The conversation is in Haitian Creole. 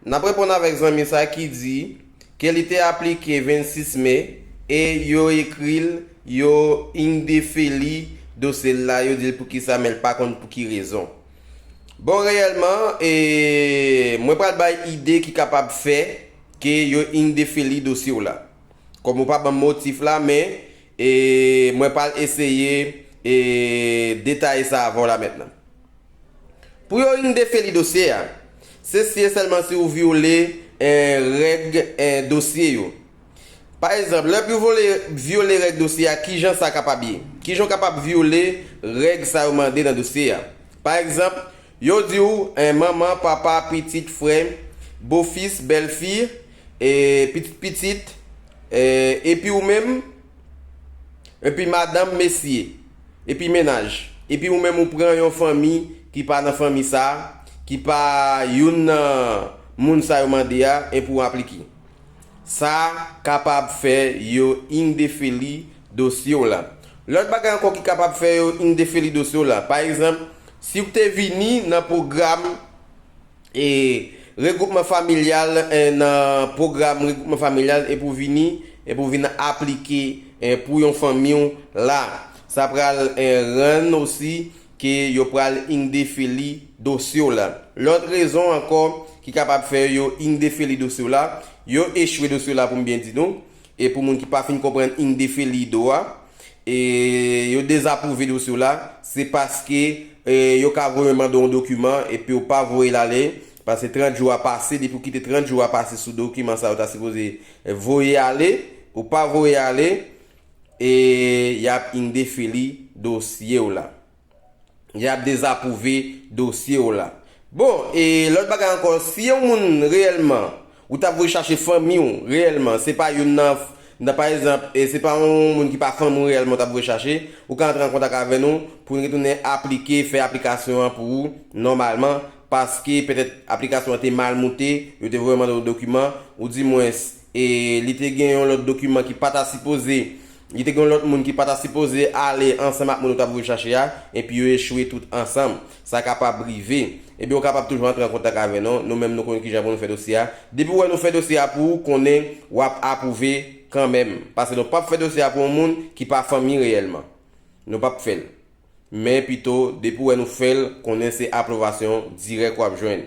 N ap reponn avèk zanmi sa ki di ke li te aplike 26 me e yo ekri l, yo indefeli dosye l la, yo di l poukisa men l pa konn pou ki rezon. Bon reyèlman, e mwen pral bay ide ki kapab fè ke yo indefeli dosye w la. Kòm ou pa ban m motif la men e mwen pral eseye e detaye sa avè w la mentnan. Pou yo yn defeli dosye a. Se si e sèlman si ou vyole en règ en dosye yo. Pa ezanp, lè pou vole vyole règ dosye a kijan sa kapab ye? Kijan w kapab vyole règ sa yo mande nan dosye a? Pa egzanp, yo di w en manman, papa, pitit, frè, bofis, bèlfi, e pitit pitit, e epi ou menm, epi madanm, mesye. Epi mennaj. Epi ou menm ou pran yon fanmi ki pa nan fanmi sa, ki pa youn nan moun sa yo mande a, enpi ou aplike. Sa kapab fè yo indefeli dosye w la. Lòt bagay ankò ki kapab fè yo indefeli dosye w la, pa egzanp, si ou te vini nan pwogram E Regwoupman Familyal nan pwogram Regwoupman Familyal e pou vini e pou vin aplike pou yon fanmi w la. Sa pral rann osi ke yo pral indefeli dosye w la. Lòt rezon ankò ki kapab fè yo indefeli dosye w la, yo echwe dosye w la pou m byen di nou, E pou moun ki pa fin konprann indefelido a, e yo dezapwouve dosye w la, se paske yo ka voye mande w yon dokiman epi w pa voye l ale, paske 30 jou a pase, depi w kite 30 jou a pase sou dokiman sa yo ta sipoze voye ale, ou pa voye ale, e y ap indefeli dosye w la. Yap dezapwouve dosye w la. Bon, e lòt bagay ankò, si yon moun reyèlman ou ta vwe chache fanmi w reyèlman, se pa youn nan, nan pa egzanp, se pa yon moun ki pa fanmi w reyèlman ou ta vwe chache, ou ka antre an kontak avè nou pou n retounen aplike, fè aplikasyon an pou ou nòmalman, paske petèt aplikasyon an te mal moute, yo te vwe mande w dokiman, ou di mwen. E li te gen yon lòt dokiman ki pa ta sipoze, li te gen yon lòt moun ki pa ta sipoze ale ansanm ak moun ou t ap rechache a, enpi yo echwe tout ansanm. Sa kapab rive. Ebyen ou kapab toujou antre an kontak avè nou, nou menm nou konn kijan pou nou fè dosye a. Depi ou wè nou fè dosye a pou ou, konnen w ap apwouve kanmenm. Pase nou p ap fè dosye a pou yon moun ki pa fanmi reyèlman. Nou p ap fè l. Men pito, depi ou wè nou fè l, konnen se apwlouvasyon dirèk w ap jwenn.